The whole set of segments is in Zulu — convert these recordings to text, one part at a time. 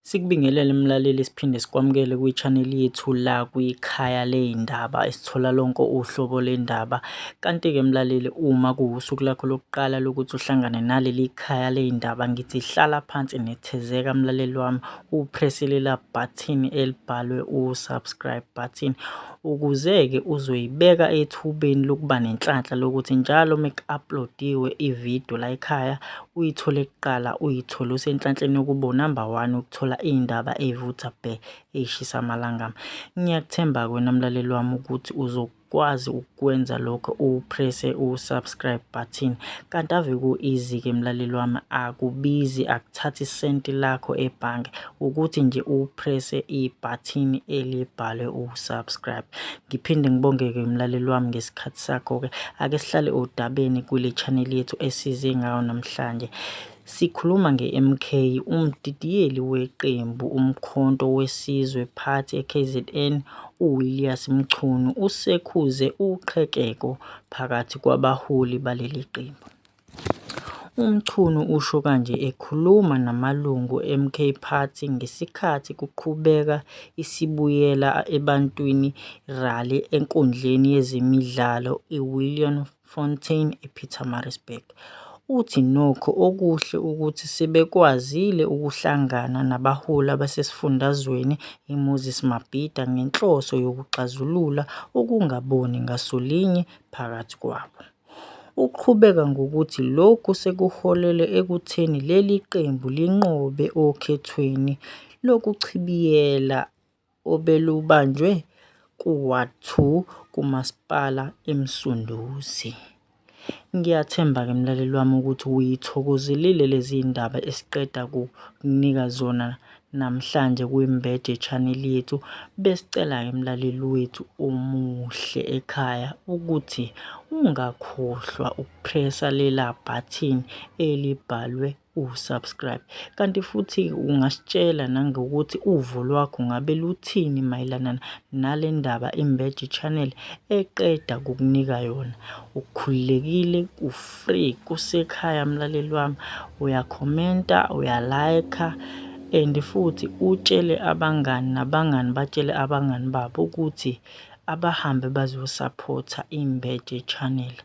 Sikubingelele mlaleli siphinde sikwamukele kwi-channel yethu la kwikhaya ley'ndaba esithola lonke uhlobo lendaba. Kanti-ke mlaleli uma kuwusuku lakho lokuqala lokuthi uhlangane naleli khaya ley'ndaba ngithi hlala phansi nethezeka mlaleli wami uprese lela button elibhalwe u-subscribe button ukuze-ke uzoyibeka ethubeni lokuba nenhlanhla lokuthi njalo uma ku-upload-iwe ividiyo la ekhaya uyithole kuqala uyithole usenhlanhleni yokuba unumber one ukuthola iy'ndaba ey'vutha bhe ey'shisa amalangama. Ngiyakuthemba-ke wena mlaleli wami ukuthi uzokwazi ukukwenza lokho uwuphrese u-subscribe button kanti ave ku-easy-ke mlaleli wami akubizi akuthathi isenti lakho ebhange. ukuthi nje uprese ibhathini elibhalwe ukusubscribe. Ngiphinde ngibongeke mlaleli wami ngesikhathi sakho-ke. Ake sihlale odabeni kule channel yethu esize ngayo namhlanje. Sikhuluma nge-MK, umdidiyeli weqembu uMkhonto weSizwe Party eKZN uWillias Mchunu usekhuze uqhekeko phakathi kwabaholi baleli qembu. UMchunu usho kanje ekhuluma namalungu eMK Party ngesikhathi kuqhubeka iSibuyela Ebantwini Rally enkundleni yezemidlalo iWilliamfontein ePietermaritzburg. Uthi nokho okuhle ukuthi sebekwazile ukuhlangana nabaholi basesifundazweni iMoses Mabhida ngenhloso yokuxazulula ukungaboni ngasolinye phakathi kwabo. Uqhubeka ngokuthi lokhu sekuholele ekutheni leli qembu linqobe okhethweni lokuchibiyela obelubanjwe ku-ward two kuMasipala iMsunduzi. Ngiyathemba ke mlaleli wami ukuthi uyithokozele lezi ndaba esiqeda kukunika zona Namhlanje kwiMbed yeChannel Yethu besicela-ke mlaleli wethu omuhle ekhaya ukuthi ungakhohlwa ukupresa lela button elibhalwe usubscribe. Kanti futhi ungasitshela nangokuthi uvo lwakho ngabe luthini mayelana nale ndaba iMbed Channel eqeda kukunika yona. Ukhululekile uf free kusekhaya mlaleli wami uyakhomenta uyalayikha and futhi utshele abangani nabangani batshele abangani babo ukuthi abahambe bazosaphotha imbeje channel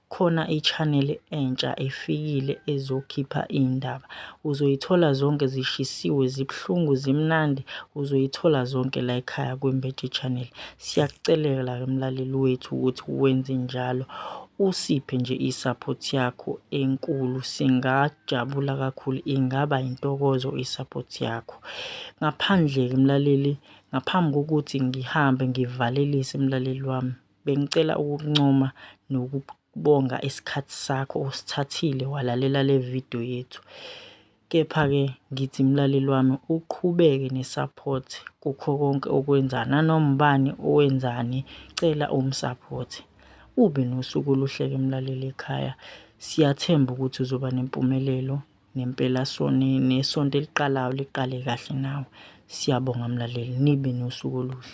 khona i-channel entsha efikile ezokhipha iy'ndaba uzoyithola zonke zishisiwe zibuhlungu zimnandi uzoyithola zonke la ekhaya kwimbeje channel siyakucelela mlaleli wethu ukuthi wenze njalo Usiphe nje i support yakho enkulu singajabula kakhulu ingaba intokozo i support yakho. Ngaphandle ke mlaleli ngaphambi kokuthi ngihambe ngivalelise mlaleli wami bengicela ukuncoma nokubonga isikhathi sakho osithathile walalela le video yethu. Kepha ke ngithi mlaleli wami uqhubeke ne support kukho konke okwenzani nanoma ubani owenzani cela umu support. Ube nosuku oluhle ke mlaleli ekhaya. Siyathemba ukuthi uzoba nempumelelo nempela sone nesonto eliqalayo liqale kahle nawe. Siyabonga mlaleli nibe nosuku oluhle.